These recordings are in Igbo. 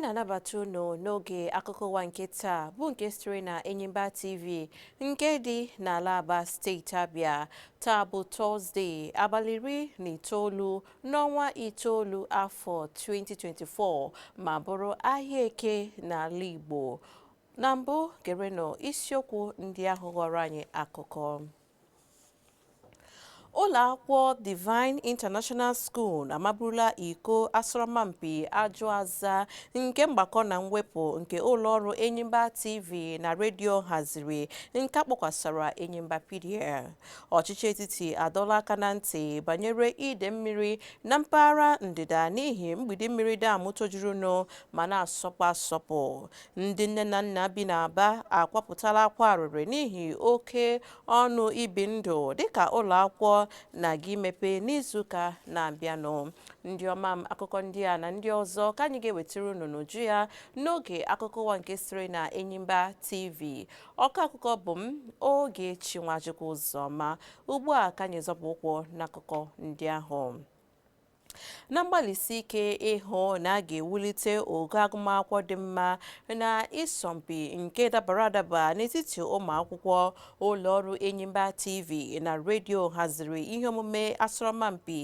na-anabata unu n'oge akụkọ ụwa nke taa bụ nke sitere na Enyimba TV nke dị n'ala Aba steeti Abịa taa bụ tọzdee abalị iri na itoolu n'ọnwa itoolu afọ 2024 ma bụrụ ahịa eke n'ala Igbo. Na mbụ gerenụ isiokwu ndị ahụ ghọrọ anyị akụkọ. Ụlọ akwụkwọ Divine International School amaburula iko asọrọmpi ajụ aza nke mgbakọ na mwepụ nke ụlọọrụ Enyimba TV na redio haziri nke a kpọkwasara Enyimba Pedia. ọchịchị etiti adọla aka na ntị banyere ide mmiri na mpaghara ndịda n'ihi mgbidi mmiri dam tojurunụ ma na-asọpụ asọpụ ndị nne na nna bi n'Aba akwapụtala akwa arịrị n'ihi oke ọnụ ibi ndụ dịka ụlọ akwụkwọ na-aga imepe n'izuụka na-abịanụ ndị ọma m akụkọ ndị a na ndị ọzọ ka anyị ga-ewetara unu n'uju ya n'oge akụkọ ụwa nke siri na Enyimba TV ọkọ akụkọ bụ m Ogechi Nwachukwu Ụzọma ugbu a ka anyị zọpụ ụkwụ n'akụkọ ndị ahụ na mgbalịsi ike ịhụ na a ga-ewulite ogo agụmakwụkwọ dị mma na ịsọmpi nke dabara adaba n'etiti ụmụ akwụkwọ ụlọ ọrụ enyimba tv na redio haziri ihe omume asọrọmpi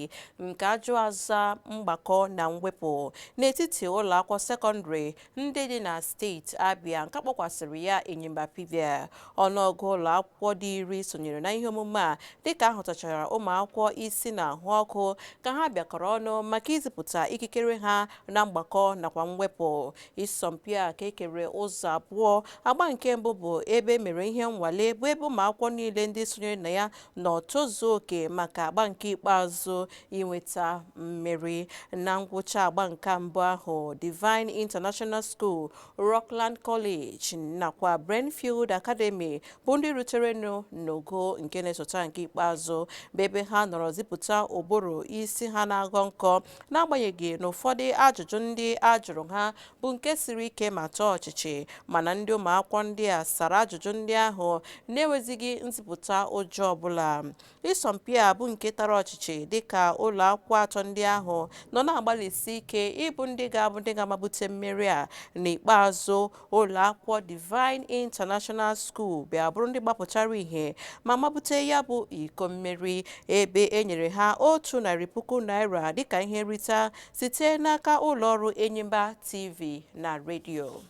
nke ajụ aza mgbakọ na mwepụ n'etiti ụlọ akwụkwọ sekọndịrị ndị dị na steeti Abịa nke a kpọkwasịrị ya Enyimba Pedia. Ọnụọgụ ụlọ akwụkwọ dị iri sonyere na ihe omume a dịka a hụtachara ụmụ akwụkwọ isi na-ahụ ọkụ ka ha bịakọrọ ọnụ maka izipụta ikikere ha na mgbakọ nakwa mwepụ. Ịsọmpi a ka e kere ụzọ abụọ agba nke mbụ bụ ebe e mere ihe nnwale bụ ebe ụmụ akwụkwọ niile ndị sonyere na ya nọ tozuo oke maka agba nke ikpeazụ inweta mmeri. Na ngwụcha agba nke mbụ ahụ, Divine International School, Rockland College nakwa Brentfield Academy bụ ndị ruterenụ n'ogo nke na-esota nke ikpeazụ bụ ebe ha nọrọ zipụta ụbụrụ isi ha na-aghọ nkọ n'agbanyeghị na ụfọdụ ajụjụ ndị a jụrụ ha bụ nke siri ike ma taa ọchịchị mana ndị ụmụakwụkwọ ndị a sara ajụjụ ndị ahụ na-enwezighị nzipụta ụjọ ọbụla ịsọmpi a bụ nke tara ọchịchị dịka ụlọ akwụkwọ atọ ndị ahụ nọ na-agbalịsi ike ịbụ ndị ga-abụ ndị ga-amabute mmeri a n'ikpeazụ ụlọ akwụkwọ Divine International School bịa bụrụ ndị gbapụtara ihe ma mabute ya bụ iko mmeri ebe e nyere ha otu narị puku naira dịka ihe nrite site n'aka ụlọọrụ enyimba tv na redio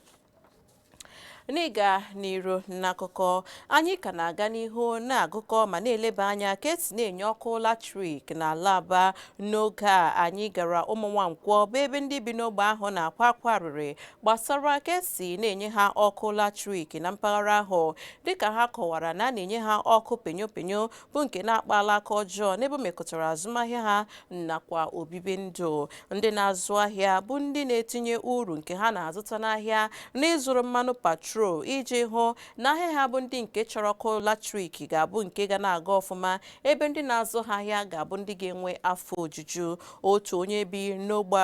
n'ịga n'iru n'akụkọ anyị ka na-aga n'ihu na-agụkọ ma na-eleba anya ka esi na-enye ọkụ latrik n'ala aba n'oge a anyị gara ụmụnwankwọ bụ ebe ndị bi n'ogbe ahụ na-akwa akwa arịrị gbasara ka esi na-enye ha ọkụ latrik na mpaghara ahụ dịka ha kọwara na a na-enye ha ọkụ penyo penyo bụ nke na-akpala aka ọjọọ n'ebe mekọtara azụmahịa ha nakwa obibi ndụ ndị na-azụ ahịa bụ ndị na-etinye uru nke ha na-azụta n'ahịa n'ịzụrụ mmanụ patrol iji hụ na ahịa ha bụ ndị nke chọrọ ọkụ latrik ga-abụ nke ga na-aga ọfụma ebe ndị na-azụ ha ahịa ga-abụ ndị ga-enwe afọ ojuju otu onye bi n'ogbe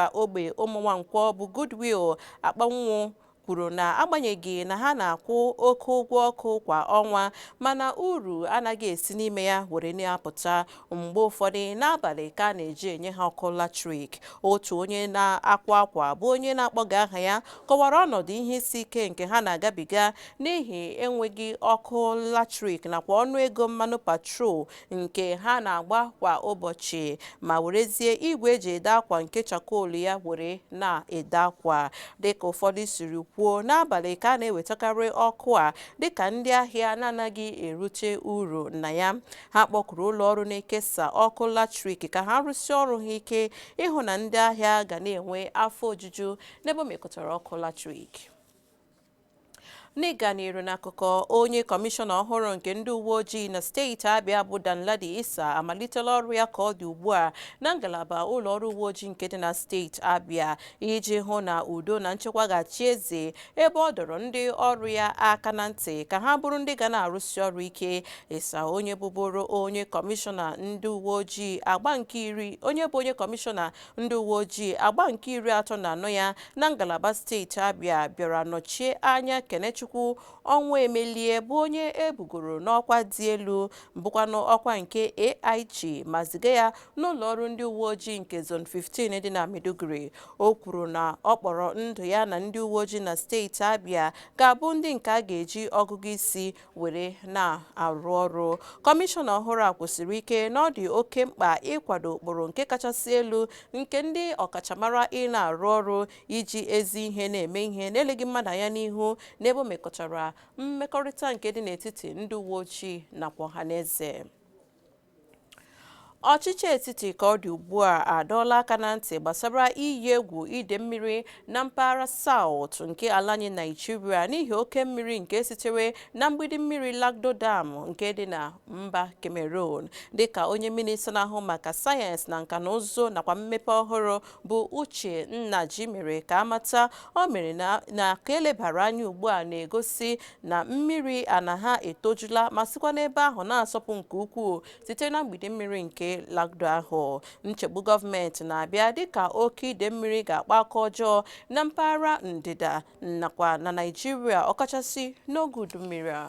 ụmụnwankwọ bụ Goodwill akpanwụ kwuru na agbanyeghị na ha na-akwụ oke ụgwọ ọkụ kwa ọnwa mana uru anaghị esi n'ime ya were na-apụta mgbe ụfọdụ n'abalị ka a na-eji enye ha ọkụ latrik otu onye na-akwa akwa bụ onye na-akpọghị aha ya kọwara ọnọdụ ihe isi ike nke ha na-agabiga n'ihi enweghị ọkụ latrik nakwa ọnụ ego mmanụ patrol nke ha na-agba kwa ụbọchị ma werezie igwe eji ede akwa nke chakol ya were na-ede akwa dịka ụfọdụ siri kwuo n'abalị ka a na-ewetakarị ọkụ a dịka ndị ahịa na-anaghị erute uru na ya ha kpọkuru ụlọ ọrụ na-ekesa ọkụ latrik ka ha rụsie ọrụ ha ike ịhụ na ndị ahịa ga na-enwe afọ ojuju n'ebe mekọtara ọkụ latrik n'ịga n'iru n'akụkọ onye kọmishọna ọhụrụ nke ndị uwe ojii na steeti abịa bụ danladi isa amalitela ọrụ ya ka ọ dị ugbu a na ngalaba ụlọ ọrụ uwe ojii nke dị na steeti abịa iji hụ na udo na nchekwa ga-achị eze ebe ọ dọrọ ndị ọrụ ya aka na ntị ka ha bụrụ ndị ga na-arụsi ọrụ ike isa onye bụbụrụ onye kọmishọna ndị uwe ojii agba nke iri onye bụ onye kọmishọna Ndị uweojii agba nke iri atọ na anọ ya na ngalaba steeti Abia bịara nọchie anya Kenechukwu Ọnwụemelie bụ onye e bugoro n'ọkwa dị elu bụkwanụ ọkwa nke AIG ma ziga ya n'ụlọọrụ ndị uweojii nke Zone 15 dị na Maiduguri. O kwuru n'okpuru ndu ya na ndị uweojii na steeti Abia ga-abụ ndị nke a ga-eji ọgụgụ isi were na-arụ ọrụ kọmishọna ọhụrụ a kwụsịrị ike na ọ dị oke mkpa ịkwado ụkpụrụ nke kachasị elu nke ndị ọkachamara ị na-arụ ọrụ iji ezi ihe na-eme ihe n'eleghị mmadụ anya n'ihu n'ebe o mekọtara mmekọrịta nke dị n'etiti ndị uwe ojii nakwa ọha na eze Ọchịchị etiti ka ọ dị ugbu a adọọla aka na ntị gbasara iyi egwu ide mmiri na mpaghara South nke ala anyị Naijiria n'ihi oke mmiri nke sitere na mgbidi mmiri Lagdo Dam nke dị na mba Cameroon dịka onye minista na-ahụ maka sayensị na nka na ụzụ nakwa mmepe ọhụrụ bụ Uche Nnaji mere ka amata o mere na ka elebara anya ugbu a na-egosi na mmiri a na-ahụ etojula ma sikwa n'ebe ahụ na-asọpụ nke ukwuu site na mgbidi mmiri nke Lagdo ahụ nchegbu gọọmenti na-abịa dịka oke ide mmiri ga-akpa aka ọjọọ na mpaghara ndịda nakwa na Naịjirịa ọkachasị n'oge udu mmiri a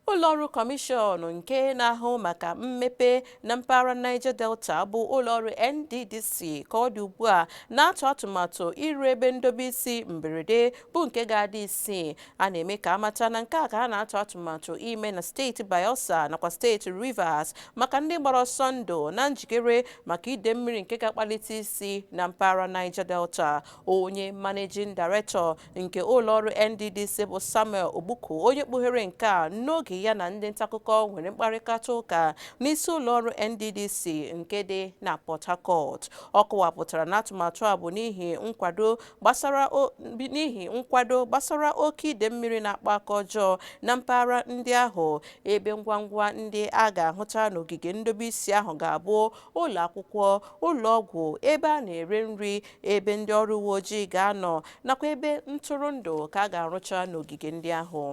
Ụlọọrụ Kọmishọn nke na-ahụ maka mmepe na mpaghara Niger Delta bụ ụlọọrụ NDDC ka ọ dị ugbu a na-atụ atụmatụ ịrụ ebe ndobe isi mberede bụ nke ga-adị isii. A na-eme ka amata na nke a ka a na-atụ atụmatụ ime na steeti Bayelsa nakwa steeti Rivers maka ndị gbara ọsọ ndụ na njikere maka ide mmiri nke ga-akpalite isi na mpaghara Niger Delta. Onye Managing Director nke ụlọọrụ NDDC bụ Samuel Ogbuku onye kpughere nke a n'oge ya na ndị ntaakụkọ nwere mkparịkata ụka n'isi ụlọọrụ NDDC nke dị na Port Harcourt ọ kọwapụtara na atụmatụ a bụ n'ihi nkwado n'ihi nkwado gbasara oke ide mmiri na-akpa aka ọjọọ na mpaghara ndị ahụ ebe ngwa ngwa ndị a ga-ahụta n'ogige ndobe isi ahụ ga-abụ ụlọ akwụkwọ ụlọ ọgwụ ebe a na-ere nri ebe ndị ọrụ uwe ojii ga-anọ nakwa ebe ntụrụndụ ka a ga-arụcha n'ogige ndị ahụ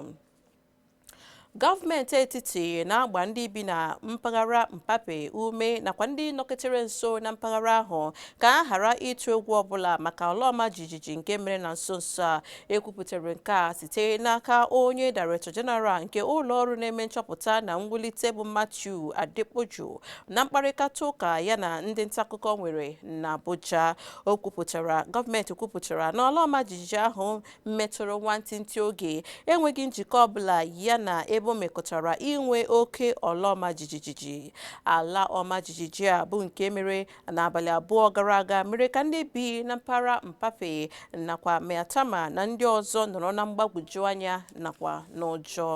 gọọmenti etiti na-agba ndị bi na mpaghara Mpape ume nakwa ndị nọketere nso na mpaghara ahụ ka a ghara ịtụ egwu ọbụla maka ala ọma jijiji nke mere na nso nso a ekwupụtara nke a site n'aka onye director general nke ụlọ ọrụ na-eme nchọpụta na mwulite bụ Matthew Adepoju na mkparịkata ụka ya na ndị ntaakụkọ nwere n'Abuja o kwupụtara gọọmenti kwupụtara na ala ọma jijiji ahụ metụrụ nwantịntị oge enweghị njikọ ọbụla ya na ebe o mekọtara inwe oke ala ọma jijiji ala ọma jijiji a bụ nke mere n'abalị abụọ gara aga mere ka ndị bi na mpaghara Mpape nakwa Maitama na ndị ọzọ nọrọ na mgbagwoju anya nakwa n'ụjọ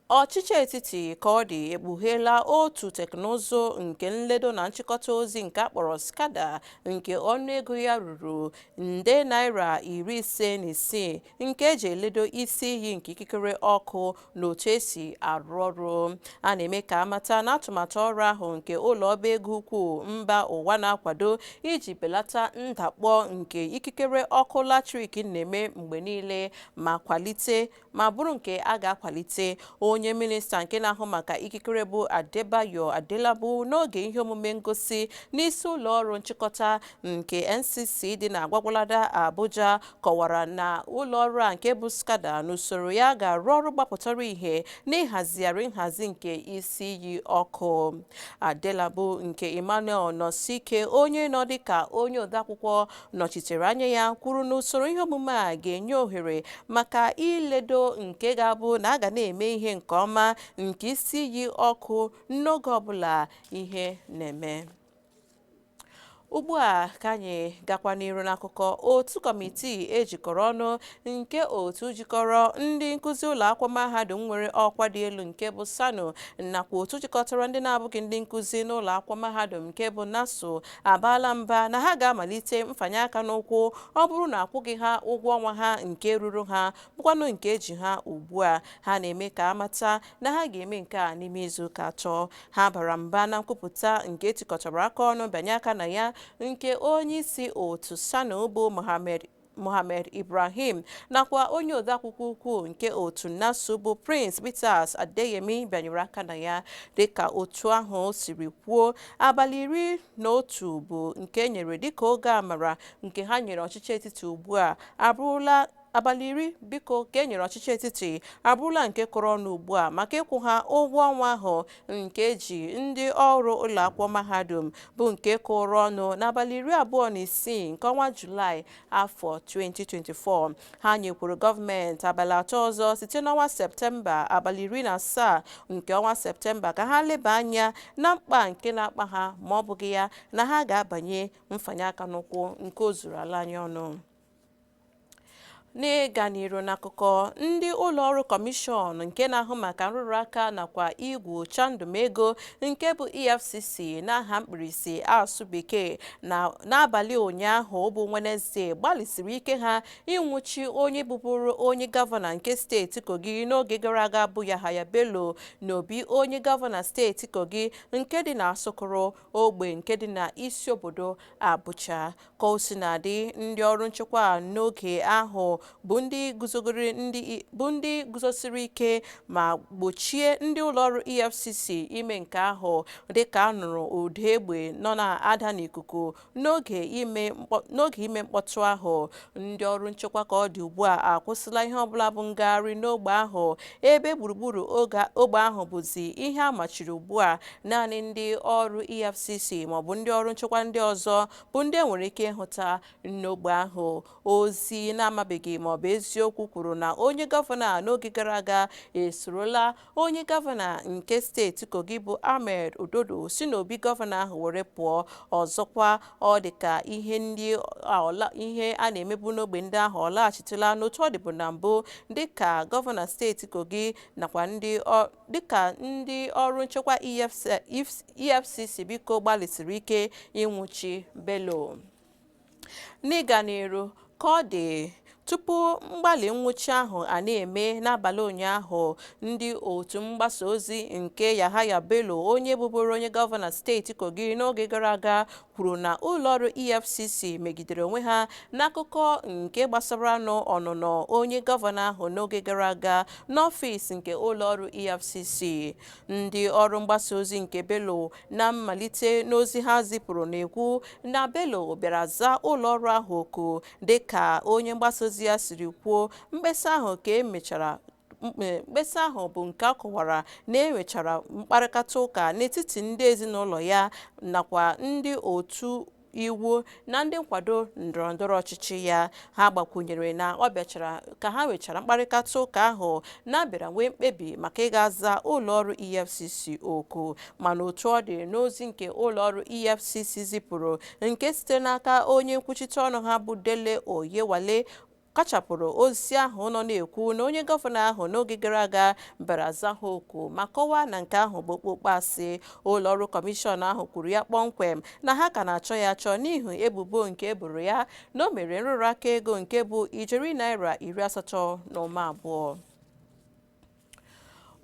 ọchịchị etiti ka ọ dị ekpugheela otu teknụzụ nke nledo na nchịkọta ozi nke akpọrọ SCADA nke ọnụego ya ruru nde naira iri ise na isii nke eji eledo isi iyi nke ikikere ọkụ na otu esi arụ ọrụ a na-eme ka amata na atụmatụ ọrụ ahụ nke ụlọ ọba ego ukwu mba ụwa na-akwado iji belata ndakpọ nke ikikere ọkụ latrik na-eme mgbe niile ma kwalite ma bụrụ nke a ga-akwalite onye minista nke na-ahụ maka ikikere bụ Adebayo Adelabu n'oge ihe omume ngosi n'isi ụlọ ọrụ nchịkọta nke NCC dị na Gwagwalada Abuja kọwara na ụlọ ọrụ a nke bụ SCADA n'usoro ya ga-arụ ọrụ gbapụtara ihe n'ịhazigharị nhazi nke isi iyi ọkụ Adelabu nke Emmanuel Nosike onye nọ dịka onye odeakwụkwọ nọchitere anya ya kwuru na usoro ihe omume a ga-enye ohere maka iledo nke ga-abụ na a ga na-eme ihe nke ọma nke isi iyi ọkụ n'oge ọbụla ihe na-eme ugbu a ka anyị gakwa n'iru n'akụkọ otu kọmitii ejikọrọ ọnụ nke otu jikọrọ ndị nkụzi ụlọ akwụkwọ mahadum nwere ọkwa dị elu nke bụ SSANU nakwa otu jikọtara ndị na-abụghị ndị nkụzi n'ụlọ akwụkwọ mahadum nke bụ NASU abaala mba na ha ga-amalite mfanye aka n'ụkwụ ọ bụrụ na akwụghị ha ụgwọ ọnwa ha nke ruru ha bụkwanụ nke eji ha ugbu a ha na-eme ka amata na ha ga-eme nke a n'ime izu ụka atọ ha bara mba na nkwupụta nke etikọtara aka ọnụ bịanye aka na ya nke onye isi otu SSANU bụ mohammed Mohammed Ibrahim nakwa onye odeakwụkwọ ukwu nke otu NASU bụ Prince Peters Adeyemi bịanyere aka na ya dịka otu ahụ siri kwuo abalị iri na otu bụ nke e nyere dịka oge amara nke ha nyere ọchịchị etiti ugbu a abụrụla abalị iri biko ka e nyere ọchịchị etiti abụrụla nke kụrụ ọnụ ugbu a maka ịkwụ ha ụgwọ ọnwa ahụ nke eji ndị ọrụ ụlọakwụkwọ mahadum bụ nke kụrụ ọnụ n'abalị iri abụọ na isii nke ọnwa julaị afọ 2024 ha nyekwuru gọọmenti abalị atọ ọzọ site n'ọnwa septemba abalị iri na asaa nke ọnwa septemba ka ha leba anya na mkpa nke na-akpa ha ma ọ bụghị ya na ha ga-abanye mfanye aka n'ụkwụ nke o zuru ala anyị ọnụ n'ịga n'iru n'akụkọ ndị ụlọọrụ kọmishọn nke na-ahụ maka nrụrụ aka nakwa igwu chandum ego nke bụ efcc n'aha mkpirisi asụ bekee n'abalị ụnyaahụ bụ wenezdee gbalịsiri ike ha ịnwụchi onye bụbụrụ onye gọvanọ nke steeti kogi n'oge gara aga bụ yahaya bello na obi onye gọvanọ steeti kogi nke dị na asokoro ogbe nke dị na isi obodo abuja Ka o sina dị, ndị ọrụ nchekwa n'oge ahụ bụ ndị guzogoro ndị bụ ndị guzosiri ike ma gbochie ndị ụlọọrụ EFCC ime nke ahụ dịka a nụrụ ụda egbe nọ na-ada n'ikuku n'oge ime mkpọ- n'oge ime mkpọtụ ahụ. Ndị ọrụ nchekwa ka ọ dị ugbu a akwụsịla ihe ọbụla bụ ngagharị n'ogbe ahụ ebe gburugburu oge ogbe ahụ bụzi ihe a machiri ugbu a naanị ndị ọrụ EFCC maọbụ ndị ọrụ nchekwa ndị ọzọ bụ ndị enwere ike ịhụta n'ogbe ahụ ozi na-amabeghị ma ọ bụ eziokwu kwuru na onye gọvanọ a n'oge gara aga esorola onye gọvanọ nke steeti kogi bụ ahmed ododo si n'obi gọvanọ ahụ were pụọ ọzọkwa ọ dị ka ihe ndị ihe a na-emebu n'ogbe ndị ahụ ọ laghachitela n'otu ọ dịbu na mbụ dịka gọvanọ steeti kogi nakwa ndị dịka ndị ọrụ nchekwa EFCC biko gbalịsiri ike ịnwụchi Bello n'ịga n'iru ka ọ dị tupu mgbalị nwụchi ahụ a na-eme n'abalị ụnyaahụ ndị otu mgbasa ozi nke Yahaya Bello onye bụburu onye gọvanọ steeti Kogi n'oge gara aga kwuru na ụlọọrụ EFCC megidere onwe ha n'akụkọ nke gbasaranụ ọnụnọ onye gọvanọ ahụ n'oge gara aga n'ọfịs nke ụlọọrụ EFCC. Ndị ọrụ mgbasa ozi nke Bello na mmalite n'ozi ha zipụrụ na-ekwu na Bello bịara zaa ụlọọrụ ahụ oku dịka onye mgbasa ozi ya siri kwuo mkpesa ahụ ka e mechara mkpesa ahụ bụ nke a kọwara na e nwechara mkparịkata ụka n'etiti ndị ezinụlọ ya nakwa ndị otu iwu na ndị nkwado ndọrọndọrọ ọchịchị ya ha gbakwunyere na ọ bịachara ka ha nwechara mkparịkata ụka ahụ na a bịara nwee mkpebi maka ịga aza ụlọọrụ efcc oku mana otu ọ dị n'ozi nke ụlọọrụ efcc zipụrụ nke site n'aka onye nkwuchite ọnụ ha bụ dele oyewale kachapụrụ ozi ahụ nọ na-ekwu na onye gọvanọ ahụ n'oge gara aga bịara zaa ha oku ma kọwaa na nke ahụ bụ okpokpo asị ụlọ ọrụ kọmishọn ahụ kwuru ya kpọmkwem na ha ka na-achọ ya achọ n'ihi ebubo nke e boro ya na o mere nrụrụ aka ego nke bụ ijeri naira iri asatọ na ụma abụọ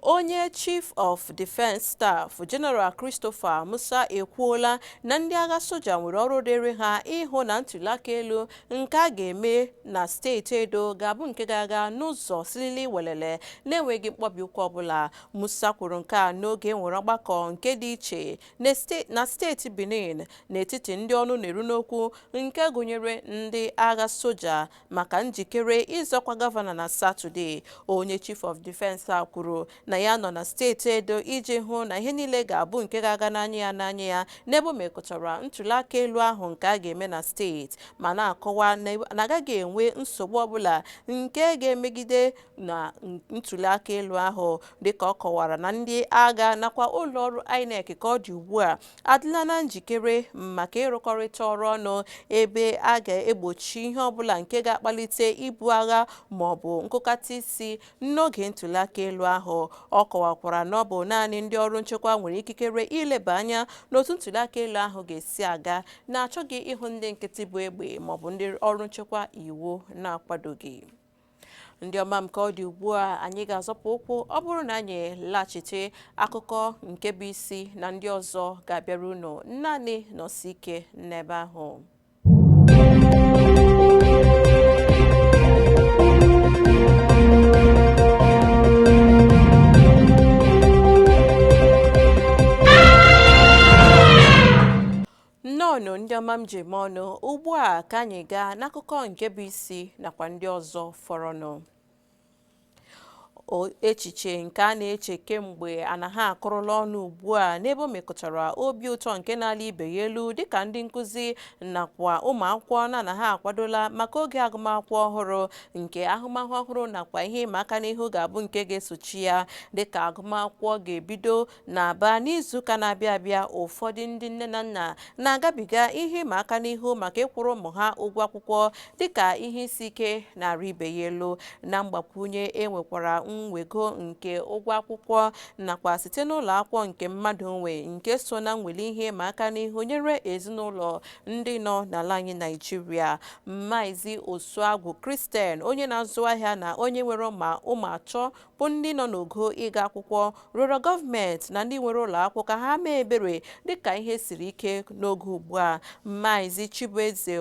onye chief of defence staff general christopher musa ekwuola na ndị agha soja nwere ọrụ dịrị ha ịhụ na ntụliaka elu nke a ga-eme na steeti edo ga-abụ nke ga-aga n'ụzọ silili welele na-enweghị mkpọbi ụkwụ ọbụla musa kwuru nke a n'oge e nwere ọgbakọ nke dị iche na steeti benin n'etiti ndị ọnụ na-eru n'okwu nke gụnyere ndị agha soja maka njikere ịzọ ọkwa gọvanọ na satọde onye chief of defense a kwuru na ya nọ na steeti edo iji hụ na ihe niile ga-abụ nke ga-aga n'anya ya n'anya ya n'ebe o mekụtara ntuliaka elu ahụ nke a ga-eme na steeti ma na-akọwa na agaghị enwe nsogbu ọbụla nke ga-emegide na ntuliaka elu ahụ dịka ọ kọwara na ndị agha nakwa ụlọọrụ inec ka ọ dị ugbu a adịla na njikere maka ịrụkọrịta ọrụ ọnụ ebe a ga-egbochi ihe ọbụla nke ga-akpalite ibu agha ma ọ bụ nkụkata isi n'oge ntụliaka elu ahụ ọ kọwakwara na ọ bụ naanị ndị ọrụ nchekwa nwere ikikere ileba anya n'otu ntụliaka elu ahụ ga-esi aga na-achọghị ịhụ ndị nkịtị bu egbe maọbụ ndị ọrụ nchekwa iwu na-akwadoghị ndị ọma m ka ọ dị ugbu a anyị ga-azọpụ ụkwụ ọ bụrụ na anyị laghachite akụkọ nke bụ isi na ndị ọzọ ga-abịara unu naanị nọsi ike n'ebe ahụ nnọọnụ ndị ọma m ji eme ọnụ ugbu a ka anyị gaa n'akụkọ nke bụ isi nakwa ndị ọzọ fọrọnụ echiche nke a na-eche kemgbe n'ala a akụrụla ọnụ ugbu a n'ebe o mekọtara obi ụtọ nke na-ala ibe ya elu dịka ndị nkụzi nakwa ụmụ akwụkwọ n'ala a akwadola maka oge agụmakwụkwọ ọhụrụ nke ahụmahụ ọhụrụ nakwa ihe ịma aka n'ihu ga-abụ nke ga-esochi ya dịka agụmakwụkwọ ga-ebido N'Aba n'izuụka na-abịa abịa, ụfọdụ ndị nne na nna na-agabiga ihe ịma aka n'ihu maka ịkwụrụ ụmụ ha ụgwọ akwụkwọ dịka ihe isi ike na-arị ibe ya elu. Na mgbakwunye, e nwekwara mwego nke ụgwọ akwụkwọ nakwa site n'ụlọ akwụkwọ nke mmadụ nwe nke so na mweli ihe ịma aka n'ihu nyere ezinụlọ ndị nọ n'ala anyị Naịjirịa. Maazị Osuagwu Christian, onye na-azụ ahịa na onye nwere ụmụ ụmụ atọ bụ ndị nọ n'ogo ịga akwụkwọ rịọrọ gọọmenti na ndị nwere ụlọakwụkwọ ka ha mee ebere dịka ihe siri ike n'oge ugbu a Maazị Chibueze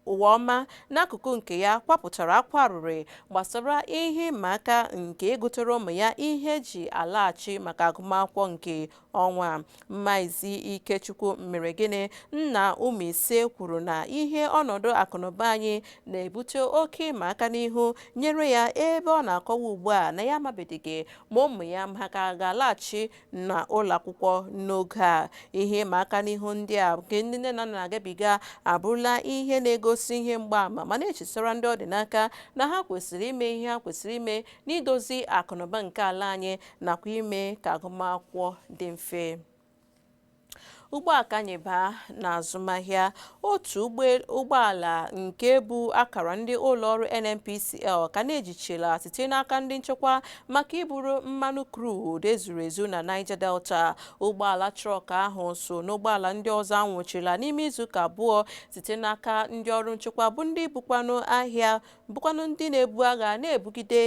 Eluwaọma n'akụkụ nke ya kwapụtara akwa arịrị gbasara ihe ịma aka nke igotere ụmụ ya ihe eji alaghachi maka agụmakwụkwọ nke Ọnwa a, Maazị Ikechukwu Mmeregịnị, nna ụmụ ise kwuru na ihe ọnọdụ akụnụba anyị na-ebute oke ịma aka n'ihu nyere ya ebe ọ na-akọwa ugbu a na ya amabedịghị ma ụmụ ya ma ha ka ga-alaghachi na ụlọakwụkwọ n'oge a. Ihe ịma aka n'ihu ndị a nke ndị nne na nna na-agabiga abụrụla ihe na-egosi ihe mgbaama ma na-echetara ndị ọ dị n'aka na ha kwesịrị ime ihe ha kwesịrị ime n'idozi akụnụba nke ala anyị nakwa ime ka agụmakwụkwọ dị mfe ugbu a ka anyị baa n'azụmahịa otu ụgbọala nke bu akara ndị ụlọọrụ NNPCL ka na-ejichila site n'aka ndị nchekwa maka iburu mmanụ crude ezuru ezu na Niger Delta ụgbọala truck ahụ so n'ụgbọala ndị ọzọ anwụchila n'ime izuụka abụọ site n'aka ndị ọrụ nchekwa bụ ndị bukwanụ ahịa bụkwanụ ndị na-ebu agha na-ebugide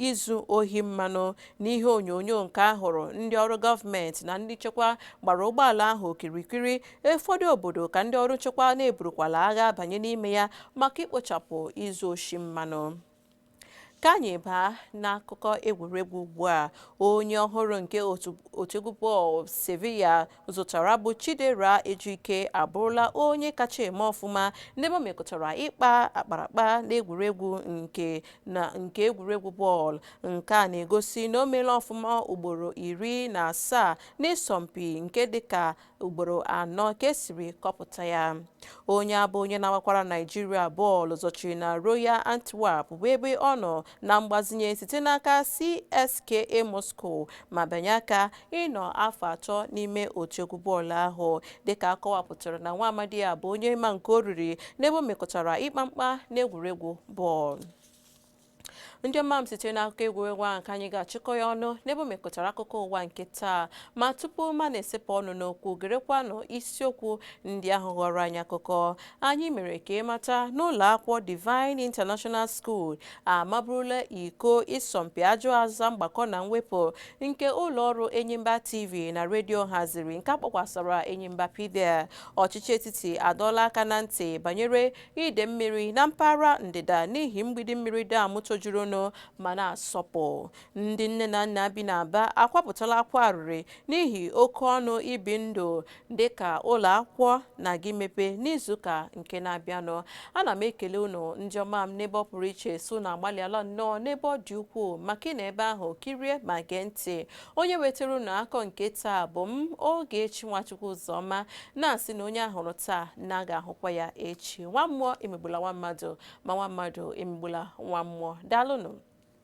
izu ohi mmanụ n'ihe onyonyo nke a hụrụ ndị ọrụ gọọmenti na ndị nchekwa gbara ụgbọala ahụ okirikiri ụfọdụ obodo ka ndị ọrụ nchekwa na-eburukwala agha banye n'ime ya maka ikpochapụ izu oshi mmanụ ka anyị baa n'akụkọ egwuregwu ugbu a onye ọhụrụ nke otu egwu bọọlụ Sevilla zụtara bụ Chidera Ejike abụrụla onye kacha eme ọfụma n'ebe o mekụtara ịkpa akparakpa n'egwuregwu nke egwuregwu bọọlụ. Nke a na-egosi na o meela ọfụma ugboro iri na asaa n'ịsọmpi nke dịka ugboro anọ ka e siri kọpụta ya. Onye a bụ onye na-agbakwara Naịjirịa bọọlụ zọchiri na Royal Antwerp bụ ebe ọ nọ na mgbazinye site n'aka CSKA Moscow ma bịanye aka ịnọ afọ atọ n'ime otu egwu bọọlụ ahụ dịka a kọwapụtara na nwa amadi a bụ onye ma nke o riri n'ebe o mekụtara ịkpa mkpa n'egwuregwu bọọlụ ndị ọma m site n'akụkọ egwuregwu ahụ ka anyị ga-achịkọ ya ọnụ n'ebe o mekụtara akụkọ ụwa nke taa ma tupu ma na-esepụ ọnụ n'okwu gerekwanụ isiokwu ndị ahụ ghọrọ anyị akụkọ Anyị mere ka ị mata na ụlọakwụkwọ Divine International School amaburula iko ịsọmpi ajụ aza mgbakọ na mwepụ nke ụlọọrụ Enyimba TV na redio haziri nke a kpọkwasara Enyimba Pedia. Ọchịchị etiti adọọla aka na ntị banyere ide mmiri na mpaghara ndịda n'ihi mgbidi mmiri dam tojurunụ ma na-asọpụ. Ndị nne na nna bi n'Aba akwapụtala akwa arịrị n'ihi oke ọnụ ibi ndụ dị ka ụlọ akwụkwọ na-aga imepe n'izuụka nke na-abịanụ ana m ekele unu ndị ọma m n'ebe ọ pụrụ iche sị unu agbalịala nnọọ n'ebe ọ dị ukwuu maka ịnọ ebe ahụ kirie ma gee ntị onye wetara unu akụkọ nke taa bụ m Ogechi Nwachukwu Ụzọma na-asị na onye a hụrụ taa na a ga-ahụkwa ya echi nwa mmụọ emegbula nwa mmadụ ma nwa mmadụ emegbula nwa mmụọ daalụnụ